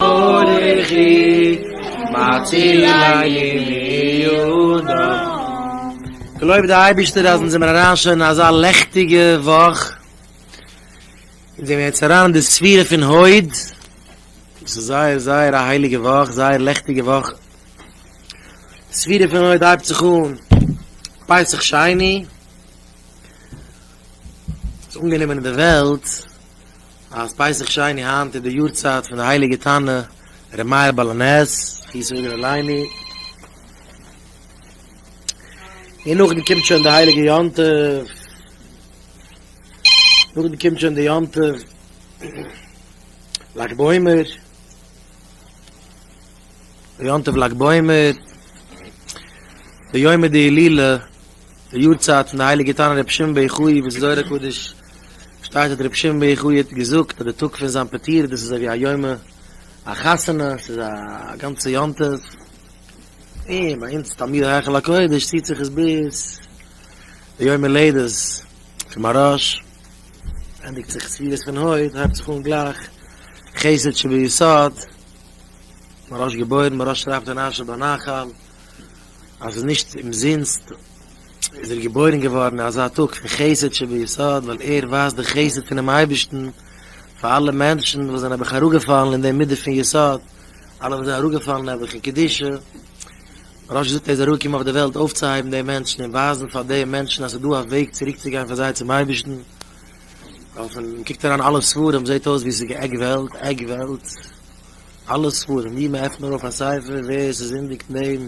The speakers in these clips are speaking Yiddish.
ברכי מצילי יהודה. געלויבט דער אייבערשטער אז אונז זעמיר אריין שוין אין אזא לעכטיגע וואך, אונז זעמיר יעצט אריין אין די ספירה פון הוד, דאס איז זייער זייער א הייליגע וואך, זייער לעכטיגע וואך, די ספירה פון הוד הייבט זיך אן פסח שני, ס'איז אנגענומען אין די וועלט אז פסח שני היינט איז די יארצייט פון די הייליגע תנא ר' מאיר בעל הנס הי ש מגור עליני, און נאכדעם קומט שוין די הייליגע יום טוב, נאכדעם קומט שוין די יום טוב לג בעומר, די יום טוב לג בעומר, די יומא דהילולא, די יארצייט פון די הייליגע תנא רבי שמעון בן יוחאי וואס איז זוהר הקדוש. שטייט האט רבי שמעון בער ח יט געזאגט אז די טאג פון זיין פטירה דאס איז אזוי ווי א יומע החתונה ס'איז א גאנצע יום טוב און ביי אונז תלמידי היכל הקודש ציט זיך עס ביז די יום הולדת פון מהרש א ענדיגט זיך ספירות פון הויט הייבט זיך אן גלייך חסד שביסוד מהרש געבוירן מהרש שרייבט אין אשר בנחל אז ס'איז נישט אומזינסט. איז ער געבוירן געווארן אין אזא טאג פון חסד שביסוד, ווייל ער ווייזט די חסד פונעם אייבערשטן פאר אלע מענטשן וואס זענען נעבעך אראפגעפאלן אין די מידה פון יסוד, אלע וואס זענען אראפגעפאלן נעבעך אין קדושה, רש י זאגט ער איז אראפגעקומען אויף די וועלט אויפצוהייבן די מענטשן און ווייזן פאר די מענטשן אז ס'איז דא א וועג צוריקצוגיין פאר זיי צום אייבערשטן, ווייל פון מען קוקט אריין אלע ספרים זעט אויס ווי עס איז גע'גט וועלט, עגבערט, אלע ספרים ווי מען עפנט נאר אויף א ספר ווער ס'זינדיגט אין דעם.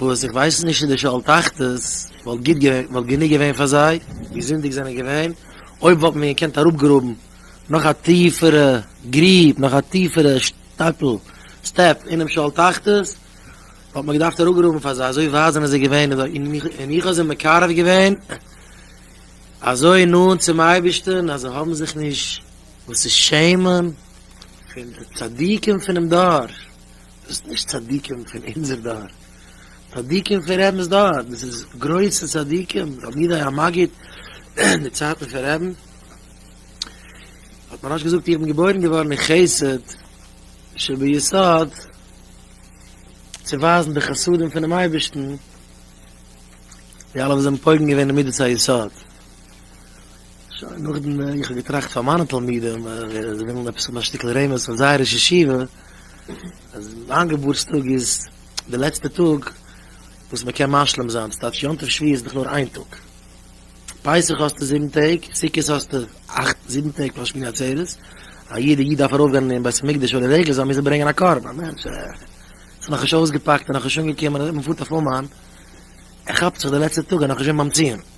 וואס איך ווייס נישט צו די שאול תחתית וואלט גענוג געווען פאר זיי, ווי זינדיג זענען געווען, אויב וואלט מען געקענט אראפגראבן נאך א טיפערע גריב, נאך א טיפערע שטאפל, סטעפ, אינעם שאול תחתית, וואלט מען געדארפט אראפגראבן פאר זיי, אזוי ווייט זענען זיי געווען, און איך האב זיי מקרב געווען אזוי נאנט צום אייבערשטן, אז זיי האבן זיך נישט וואס צו שעמען פון די צדיקים פונעם דור. דאס נישט צדיקים פון אונזער דור, צדיקים פון רעבינס דור, דאס איז גרויסע צדיקים, רבי יהודה היה מגיד אין די צייטן פון רעבין, האט מרן געזאגט איך בין געבוירן געווארן אין חסד שביסוד צו ווייזן די חסדים פונעם אייבערשטן, די אלע וואס זענען פוגם געווען אין מדת היסוד. שוין נאכדעם איך האב געטראכט פאר מיינע תלמידים ווער עס וויל עפעס האבן א שטיקל רמז פון זייער ראש ישיבה אז מיין געבורטס טאג איז די לעצטע טאג וואס מען קען משלים זיין דאס טייטש יום טוב שביעי איז דאך נאר איין טאג פסח האסטו זיבן טעג סוכות האסטו אכט זיבן טעג פאר שמיני עצרת א יעדע איד דארף ארויפגיין אין בית המקדש אדער ערגעץ זאל מוזן ברענגען א קרבן א מענטש איז נאכנישט אויסגעפאקט און נאכנישט אנגעקומען און מען פארט אויף אומאן ער כאפט זיך די לעצטע טאג ער איז נאכנישט געווען ביים ציון.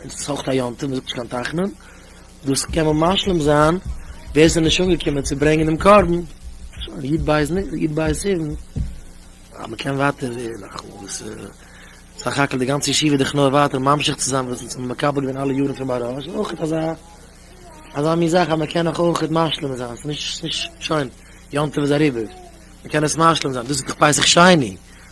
און ס'איז אויך א יום טוב, מ'זאגט נישט קיין תחנון, דאס קען מען משלים זיין, ווער ס'איז נישט אנגעקומען צו ברענגען דעם קרבן, שוין, יו ט בית נ, יו ט בית סיוון, אז מ'קען ווייטער נאך וואס, סך הכל די גאנצע ישיבה איז דאך נאר ווייטער ממשיך צו זיין וואס אונז האבן מקבל געווען אלע יארן פון מהרא ש, אויך אזא, אזא מין זאך אז מ'קען נאך אויך משלים זיין, ס'איז נישט, ס'איז נישט, שוין, יום טוב איז אריבער, מ'קען עס משלים זיין, דאס איז דאך פסח שני.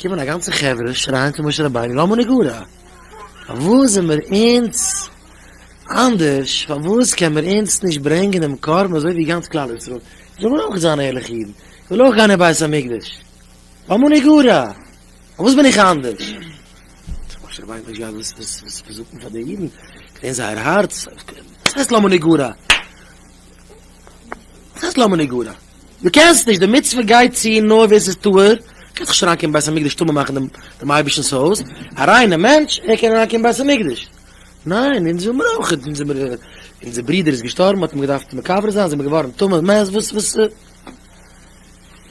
קומען א גאנצע חברה שרייען צו משה רבינו למה נגרע? פארוואס זעמיר אונז אנדערש? פארוואס קען מיר אונז נישט ברענגען דעם קרבן אזוי ווי גאנץ כלל ישראל? איך וויל אויך זיין ערליכע אידן, איך וויל אויך גיין אין בית המקדש, למה נגרע? פארוואס בין איך אנדערש? האט משה רבינו נישט געהאט וואס צו זאגן פאר די אידן, געווען זייער הארץ, וואס הייסט למה נגרע? וואס הייסט למה נגרע? דו קענסט נישט, די מצוה גייט צו נאר ווער ס'איז טהור, קענסט נישט אריינקומען בית המקדש טמא מאכן דעם דעם אייבערשטנ'ס הויז, א ריינע מענטש ער קען אריינקומען בית המקדש, ניין אונז האבן מיר אויך, אונז האבן מיר, אונזער ברודער איז געשטארבן מ'האט אים געדארפט מקבר זיין זעמער געווארן טמא, מעז וואס וואס,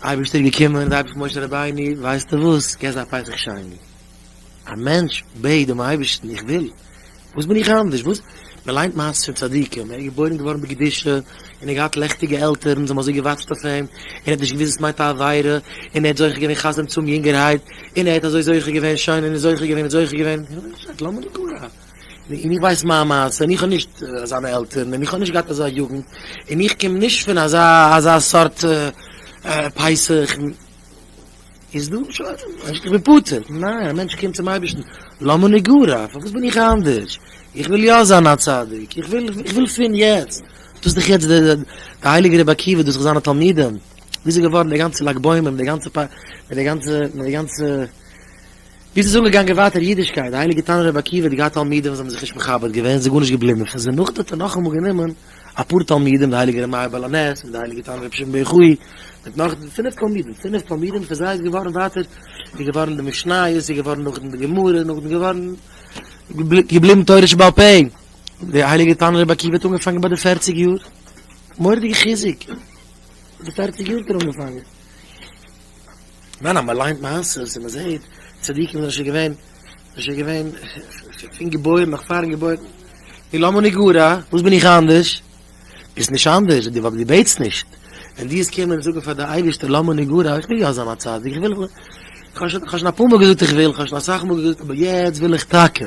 אייבערשטער איז געקומען און די אייבערשטער משה רבינו ווייסטו וואס, געב זיי א פסח שני. א מענטש בעט דעם אייבערשטן, איך וויל, וואס בין איך אנדערש, וואס, מען ליינט מעשות פון צדיקים, ער איז געבוירן געווארן בקדושה, און ער האט געהאט לעכטיגע עלטערן, זיי האבן אזוי געוואטשט אויף אים, און ער האט נישט געוואוסט וואס מיינט א עבירה, און ער האט זוכה געווען חתונה צו אים יונגערהייט, און ער האט אזוי זוכה געווען, שוין, און איז זוכה געווען, און זוכה געווען, איך בין נישט גערעכט, למה לי קרא, און איך ווייס מיין מעשה, און איך האב נישט אזאנע עלטערן, און איך האב נישט געהאט אזא יוגנט, און איך קום נישט פון אזא סארט פייסע, איך. איז דא נישט אויף אים, איך בין פטור, ניין, א מענטש קומט צום אייבערשטן, למה נגרע, פארוואס בין איך אנדערש, איך וויל יא זיין א צדיק, איך וויל, איך וויל פון יעצט, דאס איז דאך יעצט די, די הייליגע רבי עקיבא, דאס זיך זיינע תלמידים, ווי איז ער געווארן די גאנצע לג בעומר מיט די גאנצע פ, מיט די גאנצע, מיט די גאנצע, ווי איז עס אנגעגאנגען ווייטער אידישקייט, די הייליגע תנא רבי עקיבא האט געהאט תלמידים וואס האבן זיך נישט מכבד געווען, עס איז גארנישט געבליבן פון זיי, נאכדעם האט ער נאכאמאל גענומען. אפאר תלמידים די הייליגע ר' מאיר בעל הנס מיט די הייליגע תנא רבי שמעון בן חוי מיט נאך פינף תלמידים פינף תלמידים פון זיי איז געווארן ווייטער איז געווארן די משניות איז געווארן נאכדעם די גמרא נאכדעם געווארן געבליבן תורה שבעל פה די הייליגע תנא רבי עקיבא האט אנגעפאנגען ביי די פערציג יאר מורא'דיגע חיזוק די פערציג יאר האט ער אנגעפאנגען. ניין אז מען ליינט מעשיות און מען זעט צדיקים זענען שוין געווען זענען שוין געווען פון געבוירן נאך פארן געבוירן היא למה נגרע וואס בין איך אנדערש ביסט נישט אנדערש די ווייל די בעטסט נישט ווען די איז קומען זאגן פאר די אייבערשטער למה נגרע איך וויל יא זיין א צדיק איך וויל כ'האב שוין כ'האב שוין אפאר מאל געזאגט איך וויל כ'האב שוין אסאך מאל געזאגט אבער יעצט וויל איך טאקע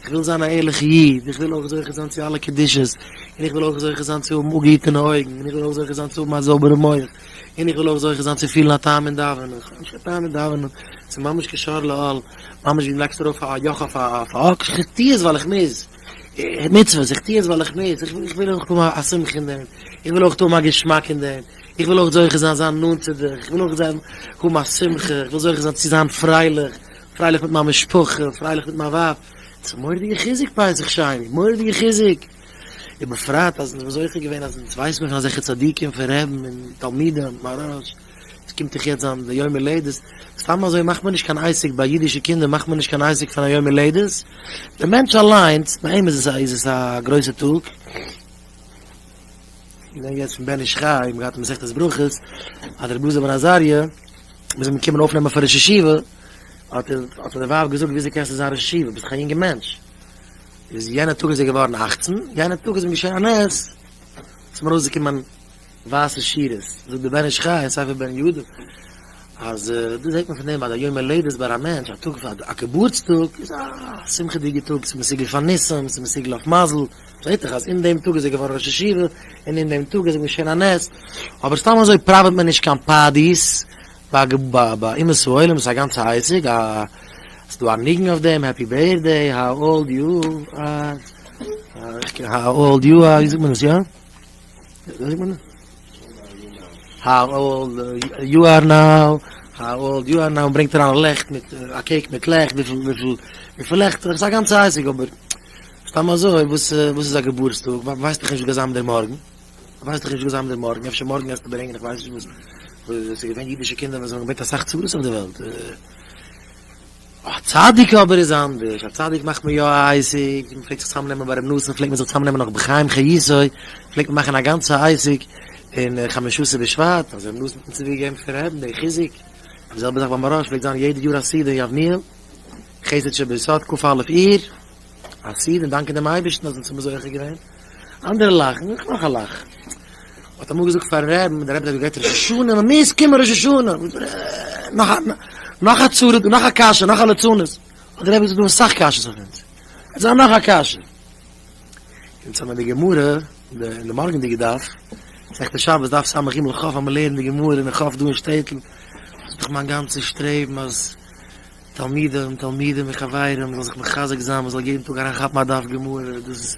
איך וויל זיין א ערליכע איד איך וויל אויך זוכה זיין צו אלע קדושות און איך וויל אויך זוכה זיין צו האבן אפגעהיטענע אויגן און איך וויל אויך זוכה זיין צו האבן א זויבערע מח. און איך וויל אויך זוכה זיין צו פילן א טעם אין דאווענען, איך האב נישט קיין טעם אין דאווענען, ס'איז ממש כשאר לאל, ממש ווי מ'לייגט ארויף א יאך אויף א אקס, איך טו עס ווייל איך מוז, מצוות, איך טו עס ווייל איך מוז, איך וויל אויך האבן א שמחה אין דעם, איך וויל אויך האבן א געשמאק אין דעם, איך וויל אויך זוכה זיין זיין נאנט צו דיך, איך וויל אויך זיין האבן א שמחה, איך וויל זוכה זיין צו זיין פרייליך, פרייליך מיט מיין משפחה, פרייליך מיט מיין ווייב, ס'איז מורא'דיגע חיזוק פסח שני, מורא'דיגע חיזוק. ובפרט אז מ'איז זוכה געווען אז אונז ווייסט מיר פון אזעלכע צדיקים פון רעבן און תלמידים, מרן ש ס קומט דאך יעצט זיין די יום הולדת, סתם אזוי מאכט מען נישט קיין אייסיק ביי אידישע קינדער מאכט מען נישט קיין אייסיק פון א יום הולדת, די מענטש אליינס ביי אים איז עס א גרויסע טאג, געדענק יעצט פון בן איש חי, מיר האבן געהאט מסכת ברכות אז רבי אלעזר בן עזריה מיר זענען געקומען אויפנעמען פאר ראש ישיבה האט די ווייב געזאגט וויאזוי קענסטו זיין ראש ישיבה ביסט דאך א יונגע מענטש. איז יענע טאג איז ער געווארן אַכצן, יענע טאג איז אים געשען א נס, עס האבן ארויסגעקומען ווייסע שורות, זאגט דער בן איש חי אין ספר בן יהודה, אז דאס זעט מען פון דעם אז א יום הולדת ביי א מענטש, א טאג פאר א געבורטס טאג, איז א שמחה'דיגע טאג, ס'איז מסוגל פאר ניסים, ס'איז מסוגל אויף מזל, זעט זיך אז אין דעם טאג איז ער געווארן ראש ישיבה, און אין דעם טאג איז אים געשען א נס, אבער סתם אזוי פראוועט מען נישט קיין פארטיס, ביי ביי אומות העולם איז א גאנצע הישג, א ס'איז דא א ניגון אויף דעם, העפי בירטדעי האו אולד יו אר, האו אולד יו אר, ווי זאגט מען עס יא? וויאזוי זאגט מען עס? האו אולד יו אר נאו, האו אולד יו אר נאו, און ברענגט אריין לעכט מיט א קעיק מיט לעכט, וויפיל וויפיל וויפיל לעכטער, ס'איז א גאנצע הישג, אבער סתם אזוי וואס וואס איז א געבורטסטאג, ווייסט דאך נישט וואס גייט זיין דער מארגן. ווייסט איך נישט וואס זיי האבן דער מארגן, אפשר מארגן גייסטו ברענגען איך ווייס נישט וואס, עס איז געווען אידישע קינדער וואס האבן געברענגט אסאך צרות אויף די וועלט, א צדיק אבער איז אנדערש, א צדיק מאכט מען יא א עסק, מען פלעגט זיך צוזאם נעמען ביי ר' נתן, פלעגט מען זיך צוזאם נעמען נאך בחיים חיי זיי, פלעגט מען מאכן א גאנצע עסק אין חמשה עשר בשבט, אז ר' נתן האט צווי געגעבן פון ר' אבן די חיזוק, די זעלבע זאך ביי מהרא ש פלעגט זיין יעדע יאר א סעודה אין יבניאל, חסד שבסוד ק א אייר, א סעודה און דאנקען דעם אייבערשטן אז אונז האט מען זוכה געווען. אנדערע לאכן, איך מאך א לאך. האט אמאל געזאגט פארן רעבן, דער רעבע האט געגעט ראש השנה, מען מוז קומען ראש השנה, נאך א, נאך א צרה, נאך א קשיא, נאך א לצנות, האט דער רעבע געזאגט דא זענען סאך קשיות אויף אונז, עס זיין נאך א קשיא. אונז האמער די גמרא, אין די מארגענדיגע דף, מסכת שבת דף סמ ג ח האמער לערנען די גמרא אין א ח ו דא אין שטעטל, דאס איז דאך מיין גאנצע שטרעבן אז תלמידים, תלמידים און חברים זאלן זיך מחזק זיין, מען זאל יעדן טאג אריינכאפן א דף גמרא, דאס איז.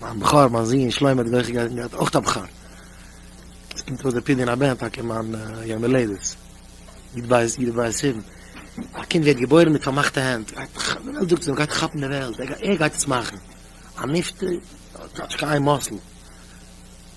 מיין בכור, מיין זון שלמה האט געויך געהייסן געהאט אויך א בכור, עס קומט אויס די פדיון הבן טאקע מיין יום הולדת, יוט בית יוט בית סיוון, א קינד ווערט געבוירן מיט פארמאכטע הענט, די וועלט זאגט אים ער גייט כאפן די וועלט, ער גייט עס מאכן, א נפטר האט כאטש קיין איין מאסל.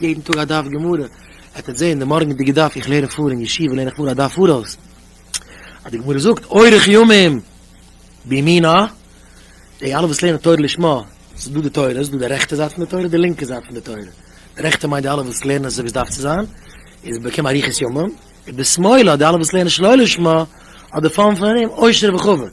יעדן טאג א דף גמרא, העט עטס זעהן די מארגענדיגע דף, איך לערן פאר אין ישיבה לערן איך נאר א דף פאראויס, אז די גמרא זאגט אורך ימים בימינה, די אלע וואס לערנען תורה לשמה, ס'איז דא די תורה, ס'איז דא די רעכטע זייט פון די תורה, די לינקע זייט פון די תורה, די רעכטע מיינט די אלע וואס לערנען אזוי ווי ס'דארף צו זיין, איז באקום אריכות ימים, ובשמאלה די אלע וואס לערנען שלא לשמה, האט די פאן פון ארום עושר וכבוד.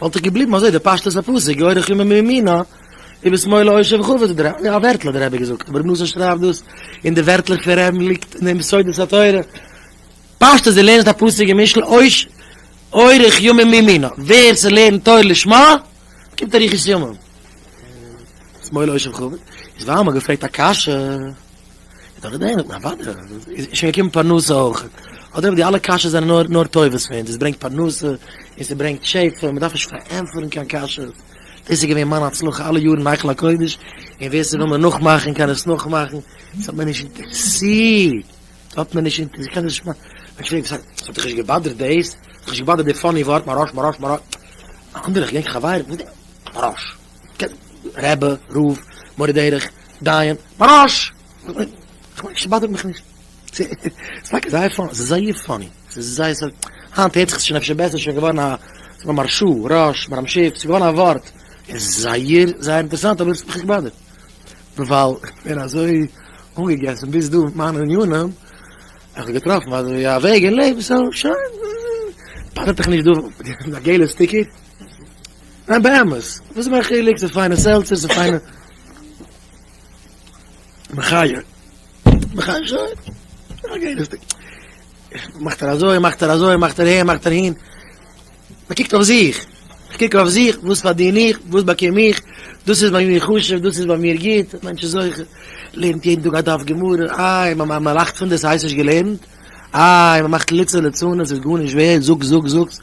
וואלט איך געבליבן אזוי די פשטות הפסוק גוי רחומה מימינו ובשמאלה עושר וכו' די רבי יא א ווערטל האט די רבי געזאגט אבער נאסען שרייבט דאס און די ווערטלעך פון רמ ליגט אין דעם סודות התורה פשטות די לערנסט א פסוק אין משלי עושר גוי רחומה מימינו ווער ס'לערנט תורה לשמה באקומט אריכות ימים ובשמאלה עושר וכו' איז ווייל מ'האט געפרעגט א קשיא. איז דאך געדענקט, א וואדע, איז שוין געקומען פרנסה אויך, אדער די אלע קשיות זענען נאר נאר טובות פון דאס ברענגט פרנסה, און ס'ברענגט שפע, מען דארף נישט פארענטפערן קיין קשיות, דאס איז געווען מיין הצלחה אלע יארן אין היכל הקודש, און ווער ס'וויל מיר נאכמאכן קען עס נאכמאכן, עס האט מיר נישט אינטערעסירט, עס האט מיר נישט אינטערעסירט, קען נישט מיין, ווען כ'פרעג וואס הייסט, עס האט דיך נישט געבאדערט דאס? עס האט דיך נישט געבאדערט די פאני ווארט מרש מרש מרש, א אנדערע כ'געדענק חברים, וואס איז דער מרש, רבי, רב, מורה דרך, דיין בראש! כ'מיין ס'באדערט מיך נישט. ס'איז טאקע זייער פאני, ס'איז זייער פאני. ס'איז זייער ס'איז, היינט הערט זיך עס שוין אפשר בעסער, ס'איז שוין געווארן א, ס'איז נאר מר ש, ראש, מר ש, ס'איז געווארן א ווארט. איז זייער זייער אינטערעסאנט אבער ס'האט מיך נישט געבאדערט. ווייל כ'בין אזוי אנגעגעסן ביז דא מיט מיינע עניינים, און כ'האב געטראפן אזוי א וועג אין לעבן, סאו שוין, באדערט דיך נישט דא די געלע סטיקער? ניין באמת, וואס איז מיין חילוק, ס'איז פיינע סעלצער, ס'איז פיינע. מחי'. מחי' שוין. א גערעכטיג. מאכט ער אזוי, מאכט ער אזוי, מאכט ער אהין, מאכט ער אהין. מ'קוקט אויף זיך. כ'קוק אויף זיך, וואס פארדין איך, וואס באקום איך, דאס איז ביי מיר חשוב, דאס איז ביי מיר גוט, א מענטש איז זוכה, לערנט יעדן טאג א דף גמרא, איי, מ'לאכט פון דאס, ס'הייסט נישט געלערנט? איי, מ'מאכט ליצנות ליצנות, ס'איז גארנישט ווערד, זאגסט, זאגסט, זאגסט.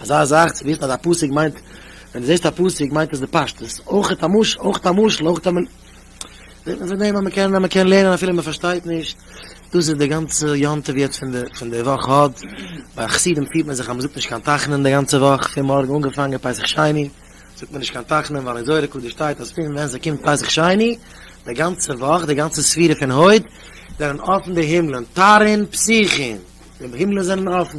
אזא זאך צו וויסן אז א פסוק מיינט, ווען דו זעסט א פסוק מיינט עס די פשטות, אויך א משל, אויך א משל, אויך א מ. זעט מען פון דעם אז מען קען אז מען קען לערנען אפילו מען פארשטייט נישט, דאס איז די גאנצע יום טוב יעצט פון די פון די וואך הוד, ביי חסידים פירט מען זיך אז מען זאגט נישט קיין תחנון די גאנצע וואך, פון מארגן אנגעפאנגען פסח שני זאגט מען נישט קיין תחנון ווייל אין זוהר הקדוש שטייט אז פון ווען ס'קומט פסח שני די גאנצע וואך די גאנצע ספירה פון הוד זענען אפן די הימלען תרין פסיחין די הימלען זענען אפן.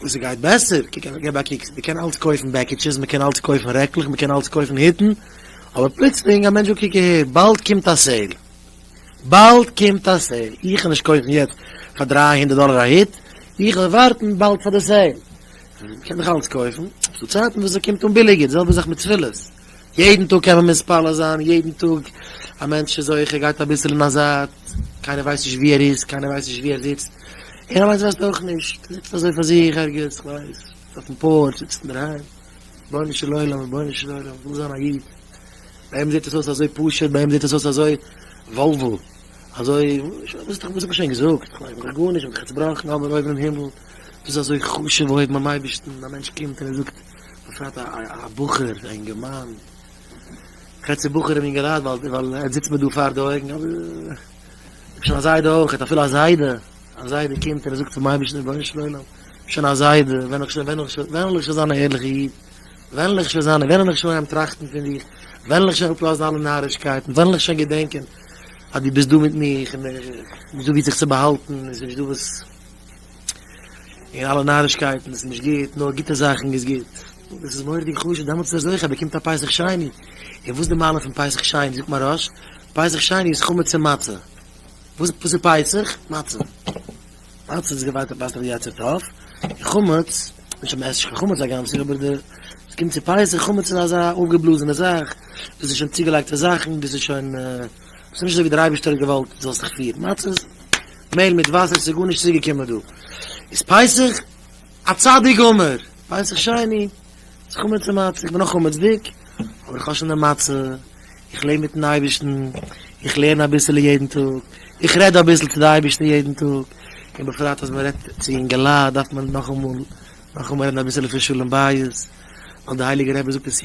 וואס עס גייט בעסער, קוק אוועק, גיב א קוק, מען קען אלץ קויפן בעקיטשעס, מען קען אלץ קויפן רעקלעך, מען קען אלץ קויפן היטן, אבער פלוצלינג א מענטש זאגט קוק אהער, באלד קומט א סעיל, באלד קומט א סעיל, איך וועל נישט קויפן יעצט פאר דרײַ הונדערט דאלער א היט, איך וועל ווארטן באלד פאר די סעיל, מען קען דאך אלץ קויפן, ס'דא צייטן וואס ס'קומט אן ביליגער, די זעלבע זאך מיט תפילות. יעדן טאג קען מען מתפלל זיין, יעדן טאג א מענטש איז אויך ער גייט אביסל אין א זייט, קיינער ווייסט נישט ווי ער איז, קיינער ווייסט נישט ווי ער זיצט, ער אליינס ווייסט אויך נישט, זיצט אזוי פאר זיך ערגעץ, כ'ווייס, אויפן פארטש, זיצט אינדערהיים, רבונו של עולם, רבונו של עולם, כ'וויל זיין א איד, ביי אים זעט עס אויס אזוי פשוט, ביי אים זעט עס אויס אזוי וואלוול, אזוי, וואס האב איך שוין געזאגט, כ'מיין דאך גארנישט, כ'בין דאך צובראכן, אבער אויבן אין הימל איז עס אזוי חשוב אויבן ביים אייבערשטן, א מענטש קומט און ער זאגט. בפרט א בחור, א אינגערמאן, חצי בחור און אינגערהייט, ווייל ער זיצט מיר דא פאר די אויגן, אבער איך האב שוין א זיידע אויך, ער האט אפילו א זיידע, א זיידע קומט און ער זאגט צום אייבערשטן, רבונו של עולם, שוין א זיידע, ווען ווען ווען וועל איך שוין זיין א ערליכע איד, ווען וועל איך שוין זיין, ווען וועל איך שוין טראכטן פון דיך, ווען וועל איך שוין אפלאזן אלע נארישקייטן, ווען וועל איך שוין געדענקען אז דו ביסט דא מיט מיך, און איך מוז דא ווי זיך צו באהאלטן, און ס'נישט דא וואס. און אלע נארישקייטן איז נישט גוט, נאר גוטע זאכן איז גוט, דאס איז מורא'דיג חשוב, דעמאלטס איז ער זוכה, באקומט א פסח שני, און וואס איז די מעלה פון פסח שני, זאגט מהרש, פסח שני איז חמץ און מצה, וואס איז פסח? מצה, מצה איז געווארט א פסח די יצר טוב, און חמץ, נישט אז מען עסט נישט קיין חמץ א גאנץ יאר, אבער ווען ס'קומט צו פסח, חמץ איז אזא אויפגעבלאזענע זאך, דאס איז שוין צוגעלייגטע זאכן, דאס איז שוין, דאס איז נישט אזוי ווי דער אייבערשטער האט געוואלט דו זאלסט דיך פירן, מצה איז. מעהל מיט וואסער ס'איז גארנישט צוגעקומען דא איז פסח א צדיק גמור פסח שני איז חמץ מצה איך בין אויך חמצ'דיג אבער איך האב שוין די מצה איך לעב מיטן אייבערשטן איך לערן אביסעלע יעדן טאג איך רעד אביסל צו די אייבערשטער יעדן טאג און בפרט אז מ'רעדט צו אינגעלייט דארף מען נאכאמאל נאכאמאל רעדן אביסעלע פון שלום בית ווייל די הייליגע רבי זאגט אין ס.